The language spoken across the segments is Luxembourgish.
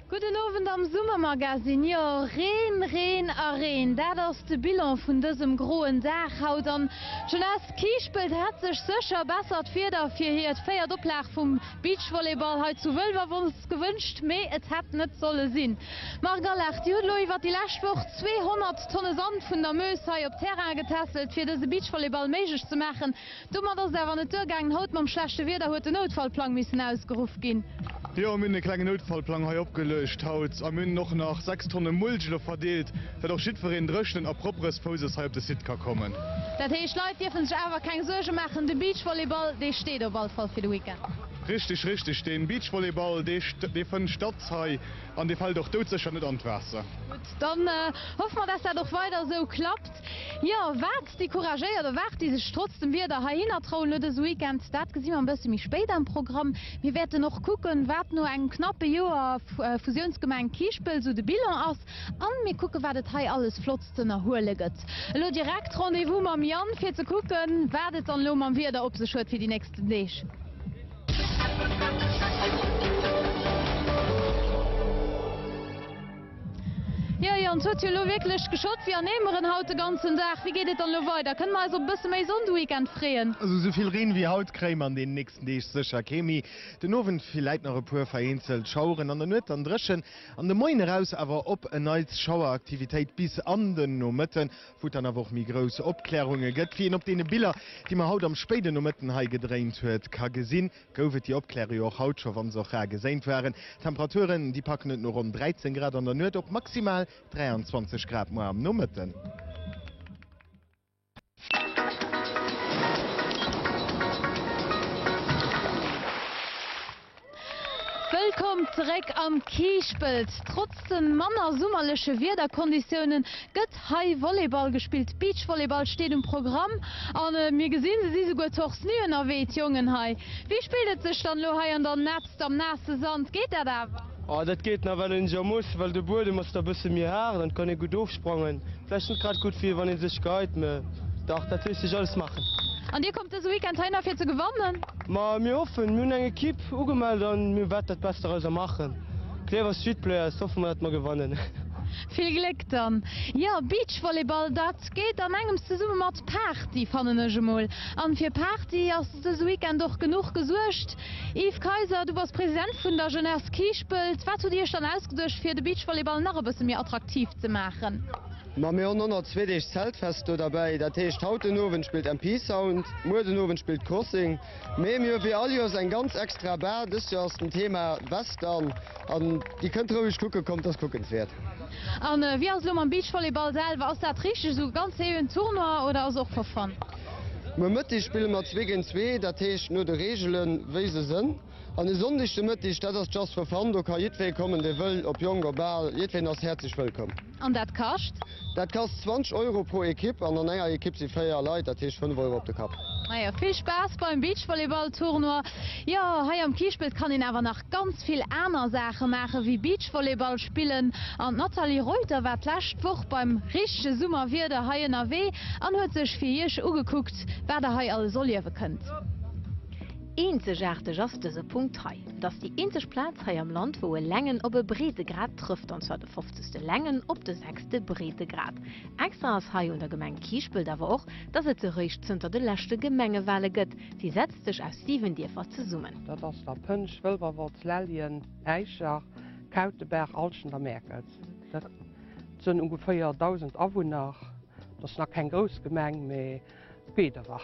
Gudden Owend am Summermagazine. Jo, Reen, Reen a Reen, dat ass de Bilan vun dësem groen Dag haut. An d'Jeunesse Kiischpelt hätt sech sécher bessert Wieder fir hiert véiert Oplag vum Beachvolleyball hei zu Wëlwerwolz Gewënscht, mee et hätt net solle sinn. Marc Allard, Dir hutt elo iwwert déi lescht Woch 200 Tonne Sand vun der Meuse hei op Terrainen getässelt, fir dëse Beachvolleyball méiglech ze maachen. Domat ass et awer net duergaangen. Haut mam schlechte Wieder huet den Noutfallplang missen ausgeruff ginn. Jo, mir hunn e klengen Noutfallplang hei opgeluecht haut a mir hunn och nach 6 Tonne Mulch elo verdeelt, dat och jiddwereen dréchnen a properes Fousses hei op de Site ka kommen. Dat heescht, d'Leit dierfe sech awer keng Suerge maachen, de Beachvolleyball, dee steet op all Fall fir de Weekend? Richteg, richteg, dee Beachvolleyball, dee fënnt statt hei an dee fält och doudsécher net an d'Waasser. Gutt, dann hoffe mer, dass dat och weider esou klappt. Jo, wat déi couragéiert a wat déi sech trotz dem Wieder heihinner trauen lo dëse Weekend, dat gesi mer e bësse méi spéit am Programm. Mir wäerten och kucken, wat no engem knappe Joer Fusiounsgemeng Kiischpelt esou de Bilan ass an mir kucken, wat et hei alles Flottes Z'ënnerhuele gëtt. Elo direkt Rendez-vous mam Yann fir ze kucken, wat et dann elo mam Wieder op sech huet fir déi nächsten Deeg. Jo Yann, t'huet jo elo wierklech geschott wéi an Eemeren haut de ganzen Dag. Wéi geet et dann elo weider? Kënne mer eis op e bësse méi Sonn de Weekend freeën? Also sou vill Reen wéi haut kréie mer an den nächsten Deeg sécher kee méi. Den Owend villäit nach e puer vereenzelt Schaueren, an der Nuet dann dréchen. An de Moien eraus awer op en Neits Schaueraktivitéit bis an den Nomëtten, wou et dann awer och méi grouss Opklärunge gëtt. Wéi een op deene Biller, déi mer haut am spéiden Nomëtten hei gedréint huet, ka gesinn, gouf et déi Opkläre jo och haut scho, wann se och rar geséint waren. D'Temperaturen, déi packen et no ronn 13 Grad an der Nuet op maximal 23 Grad muer am Nomëtten. Wëllkomm zeréck am Kiischpelt! Trotz de manner summerleche Wiederkonditiounen gëtt hei Volleyball gespillt. Beachvolleyball steet um Programm a mir gesinn, se si souguer torse nu ënnerwee, d'Jongen hei. Wéi spillt et sech dann elo hei an der Net? Just am naasse Sand geet dat awer? Oh, dat geet nach, well een jo muss, well de Buedem ass da bësse méi haart an et kann ee gutt ofsprangen. Vläicht net grad gutt fir wann ee sech gehäit, mä dach, dat léisst sech alles maachen. An Dir kommt dëse Weekend heihinner fir ze gewannen? Ma mir hoffen. Mir hunn eng Ekipp ugemellt a mir wäerten dat Best derauser maachen. Klierwer Street Players, hoffe mer dat mer gewannen. Vill Gléck dann. Jo, Beachvolleyball, dat geet an engems zesumme mat Party, fannen ech emol. An fir Party ass dëse Weekend och genuch gesuergt. Yves Kayser, Du bass President vun der Jeunesse Kiischpelt. Wat hutt Dir Iech dann ausgeduecht fir de Beachvolleyball nach e bësse méi attraktiv ze maachen? Ma mir hunn och nach zwee Deeg Zeltfest do derbäi. Dat heescht, haut den Owend spillt MP Sound, muer den Owend spillt Crossing. Mee mir hu wéi all Joers eng ganz extra Bar. Dëst Joer ass den Thema Western an Dir kënnt roueg kucken, kommt, ass kuckenswäert. A wéi ass et elo mam Beachvolleyball selwer? Ass dat richteg esou ganz seriöen Tournoi oder ass och for fun? Um Mëtteg spille mer zwee géint zwee, dat heescht no de Reegelen, wéi se sënn. An e Sonndeg de Mëtteg, dat ass just for fun, do ka jiddwee kommen, dee wëll, ob jonk, ob al, jiddween ass häerzlech wëllkomm. An dat kascht? Dat kascht 20 Euro pro Ekipp an an enger Ekipp si véier Leit, dat heescht 5 Euro op de Kapp. Majo, vill Spaass beim Beachvolleyball-Tournoi. Jo, hei am Kiischpelt kann een awer nach. ganz vill aner Saache maachen, wéi Beachvolleyball spillen an d'Nathalie Reuter war d'lescht Woch beim richtege Summerwieder hei ënnerwee an huet sech fir iech ugekuckt, wat der hei alles erliewe kënnt. Eenzegaarteg ass dëse Punkt hei. Et ass déi eenzeg Plaz hei am Land, wou e Längen op e Breedegrad trëfft, an zwar de fofzegste Längen op de sechste Breedegrad. Extra ass hei un der Gemeng Kiischpelt awer och, dass et se réischt zënter de leschte Gemengewale gëtt, Si setzt sech aus 7 Dierfer zesummen. Dat ass der Pënsch, Wëlwerwolz, Lellien, Äischer, Kautebaach, Alschent a Mäerkels. Dat sënn ungeféier 1.000 Awunner. Dat ass nach keng grouss Gemeng, mee geet ewer.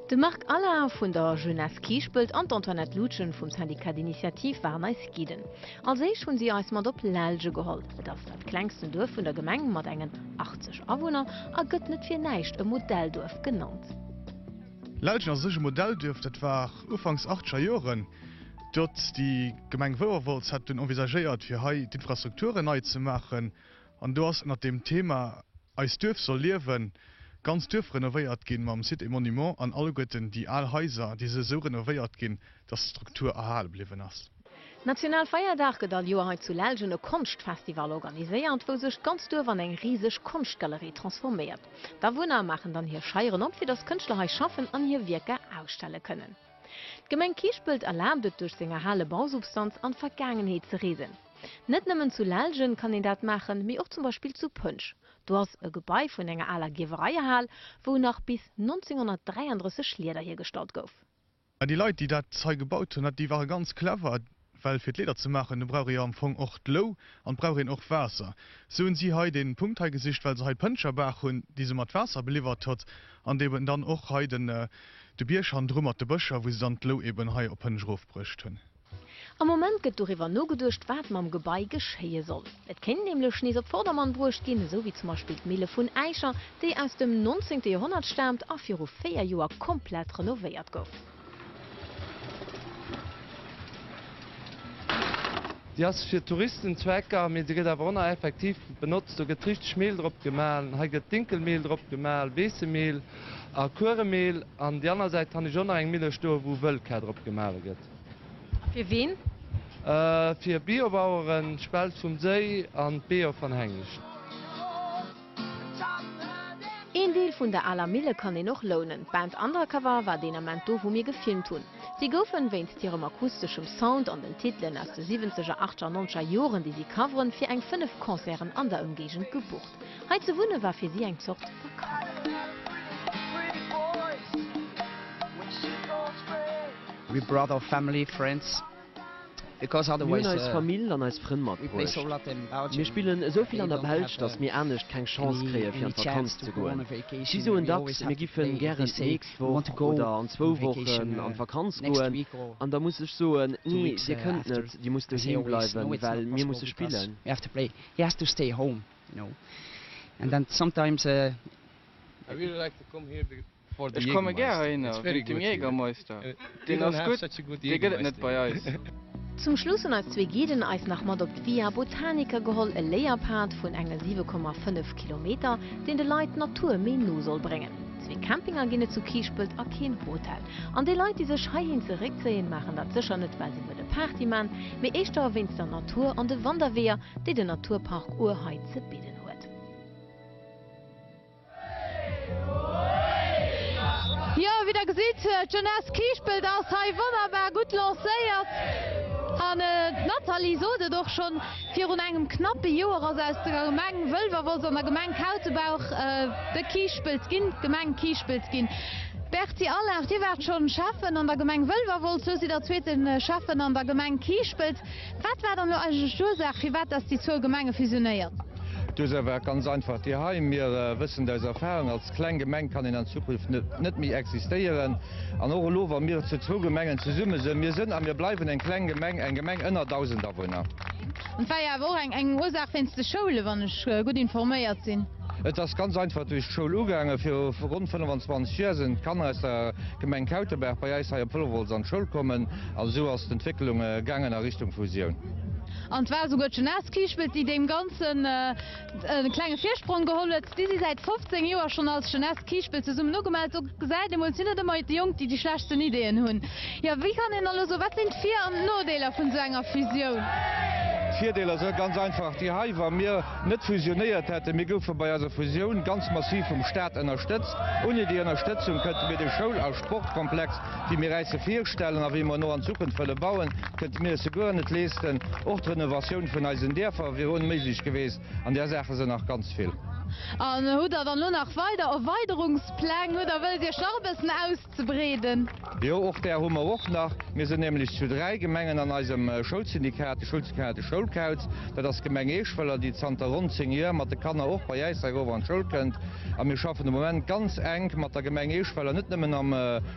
De Marc Allain vun der Jeunesse Kiischpelt an d'Antoinette Loutgen vum Syndicat d'Initiative waren eis Guiden. Als éischt hunn si eis mat op Lellge geholl. Et ass dat klengsten Duerf vun der Gemeng mat engen 80 Awunner a gëtt net fir näischt e Modellduerf genannt. Lellgen ass u sech e Modellduerf, dat war ufanks achteger Joren dot. Déi Gemeng Wouerwolz hat dunn envisagéiert fir hei d'Infrastrukturen nei ze maachen an do ass ënnert deem Thema Eist Duerf soll liewen d'ganzt Duerf renovéiert ginn, mam Site et Monuments an alleguerten déi al Haiser, déi si esou renovéiert ginn, datt d'Struktur erhale bliwwen ass. Nationalfeierdag gëtt all Joer hei zu Lellgen e Konschtfestival organiséiert, wou sech d'ganzt Duerf an eng riseg Konschtgalerie transforméiert. D'Awunner maachen dann hir Scheieren op, fir datt Kënschtler hei schaffen an hir Wierker ausstelle kënnen. D'Gemeng Kiischpelt erlaabt et, duerch seng erhale Bausubstanz an d'Vergaangenheet ze reesen. Net nëmmen zu Lellgen kann een dat maachen, mee och zum Beispill zu Pënsch. Do ass e Gebai vun enger aler Gierwereihal, wou nach bis 1933 Lieder hiergestallt gouf. Mä déi Leit, déi dat hei gebaut hunn, déi ware ganz clever, well fir d'Leeder ze maachen, do brauch ee jo am Fong och d'Lou an et brauch een och Waasser. Sou hunn si hei dee Punkt hei gesicht, well se hei d'Pëntscherbaach hunn, déi se mat Waasser beliwwert huet, an déi eben dann och hei de Bierg hannendru mat de Bëscher, wou se dann d'Lou eben hei op Pënsch erofbruecht hunn. Am Moment gëtt doriwwer nogeduecht, wat mam Gebai geschéie soll. Et kéint nämlech nees op Vordermann bruecht ginn, esou wéi zum Beispill d'Mille vun Äischer, déi aus dem 19. Joerhonnert staamt a viru véier Joer komplett renovéiert gouf. Déi ass fir Touristenzwecker, mee se gëtt awer ëmmer effektiv benotzt. Do gëtt richteg Mehl drop gemahlen. Hei gëtt Dinkelmehl drop gemahlen, Weessemehl a Kueremehl. An déi aner Säit han ech och nach eng Mille stoen, wou Wëllkar drop gemahlen gëtt. A fir ween? Fir Biobaueren, d'Spelz vum Séi an d'Beeër van Hengischt. Een Deel vun der aler Mille kann een och lounen. D'Band Undercover war deen Ament do, wou mir gefilmt hunn. Si goufen, wéinst hirem akusteschem Sound an den Titelen aus de siwwenzeger, achteger an nonzeger Joren, déi si coveren, fir eng fënnef Concerten an der Ëmgéigend gebucht. Hei ze wunne war fir si eng Zort Vakanz. Mir hunn eis Famill an eis Frënn matbruecht. Mir spillen esou vill an der Belsch, datt mir anescht keng Chance kréie fir an d'Vakanz ze goen. Si soen dacks, mir giffen gären d'nächst Woch oder an zwou Wochen an d'Vakanz goen, an da muss ech soen, Nee, Dir kënnt net, Dir musst doheem bleiwen, well mir musse spillen. He has to stay home, you know, and then sometimes a. I really like to come here for the Jägermeister. Ech komme gär heihinner wéinst dem Jägermeister. Deen ass gutt, dee gëtt et net bei eis. Zum Schluss hunn eis zwee Guiden eis nach mat op d'Via Botanica geholl, e Léierpad vun enge 7,5 Kilometer, deen de Leit d'Natur méi no soll bréngen. Zwee Campinger ginn et zu Kiischpelt a keen Hotel. An déi Leit, déi sech heihin zeréckzéien, maachen dat sécher net, well se wëlle Party man, mee éischter wéinst der Natur an de Wanderweeër, déi den Naturpark Our hei ze bidden huet. Jo, wéi der gesitt, d'Jeunesse Kiischpelt ass hei wonnerbar gutt lancéiert. An d'Nathalie sot et och schonn. Virun engem knappe Joer ass aus der Gemeng Wëlwerwolz an der Gemeng Kautebaach de Kiischpelt ginn, d'Gemeng Kiischpelt ginn. Berti Allard, Dir waart schonn Schäffen an der Gemeng Wëlwerwolz, lo sidd Der zweete Schäffen an der Gemeng Kiischpelt. Wat war dann elo eigentlech d'Ursaach, firwat dass déi zwou Gemenge fusionéiert? D'Ursaach war ganz einfach déi hei, Mir wëssen aus Erfahrung, als kleng Gemeng kann een an Zukunft net méi existéieren. An och elo, wa mir zu zwou Gemengen zesumme sinn, mir sinn a mir bleiwen eng kleng Gemeng, eng Gemeng ënner 1.000 Awunner. An et war jo awer och eng Ursaach wéinst de Schoulen, wann ech gutt informéiert sinn. Et ass ganz einfach duerch d'Schoul ugaangen. Viru ronn 25 Joer sinn d'Kanner aus der Gemeng Kautebaach bei eis hei op Wëlwerwolz an d'Schoul kommen an esou ass d'Entwécklung gaangen a Richtung Fusioun. An et war esouguer d'Jeunesse Kiischpelt, déi deem Ganzen. E klenge Virsprong geholl huet. Si si säit 15 Joer schonn als Jeunesse Kiischpelt zesummmen ugemellt. Do gesäit ee mol, sinn et ëmmer déi Jonk, déi déi schlechtsten Ideeën hunn. Jo, wéi kann een elo soen, wat sinn d'Vir an d'Nodeeler vun esou enger Fusioun? D'Virdeeler sou ganz einfach déi hei, Wa mir net fusionéiert hätten, mir goufe bei eiser Fusioun ganz massiv vum Staat ënnerstëtzt. Ouni déi Ënnerstëtzung kënnte mir de Schoul a Sportkomplex déi mir eis virstellen a wéi mer no an Zukunft wëlle bauen, kënnte mir eis jo guer net leeschten. Och d'Renovatioun vun eisen Dierfer wier onméiglech geweest. An där Saache sinn nach ganz vill. An hutt Der dann elo nach weider Erweiderungspläng oder wëllt Iech nach e bëssen auszebreeden? Jo, och där hu mer och nach. Mir sinn nämlech zu dräi Gemengen an eisem Schoulsyndikat, de Schoulsyndikat Schoulkauz. Dat ass d'Gemeng Eeschwëller, déi zanter ronn zéng Joer mat de Kanner och bei äis hei erof an d'Schoul kënnt. A mir schaffen de Moment ganz enk mat der Gemeng Eeschweiler, net nëmmen am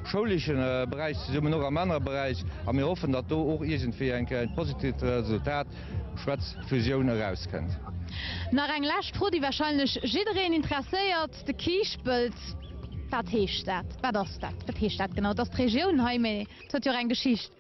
schouleche Beräich zesummen, mee och am anere Beräich. A mir hoffen, datt do och iergendwéi eng Kéier e positivt Resultat, schwätz Fusioun, erauskënnt. Nach eng lescht Fro, déi warscheinlech jiddereen interesséiert, de Kiischpelt, wat heescht dat, wat ass dat, wat heescht dat genau? Et ass d'Regioun hei, mee et huet jo och eng Geschicht.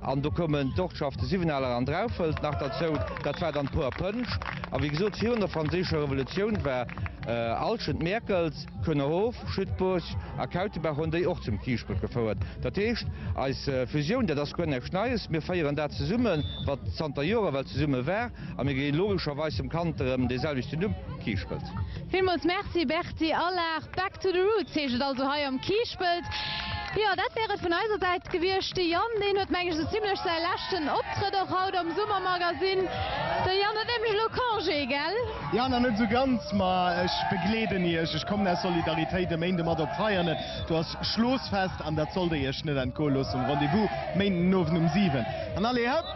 An do koumen d'Ortschafte Siwwenaler an Draufelt nach derzou. Dat war dann d'Poer Pënsch. A wéi gesot, virun der Franséischer Revolutioun war Alschent, Mäerkels, Kuenerhof, Schüttbourg a Kautebaach hunn déi och zum Kiischpelt gefouert. Dat heescht, eis Fusioun, dat ass guer näischt Neies. Mir féieren dat zesummen, wat zanter Joren well zesumme war, a mir gi logescherweis dem Kand erëm dee selwechte Numm, Kiischpelt. Villmools Merci, Bertrand. Déi al Lag Back to the Roots heescht et also hei am Kiischpelt. Jo, dat wär et vun eiser Säit gewiescht. De Yann, deen huet meng ech esou zimlech säi leschten Optrëtt och haut am Summermagazin. De Yann huet nämlech elo Congé, gell? Jo, nach net esou ganz, ma ech begleeden iech. Ech kommen aus Solidaritéit e Méinde mat op Veianen. Do ass Schlossfest an dat sollt der iech net entgoe loossen. Rendez-vous Méindenowend um 7 an allez hëpp!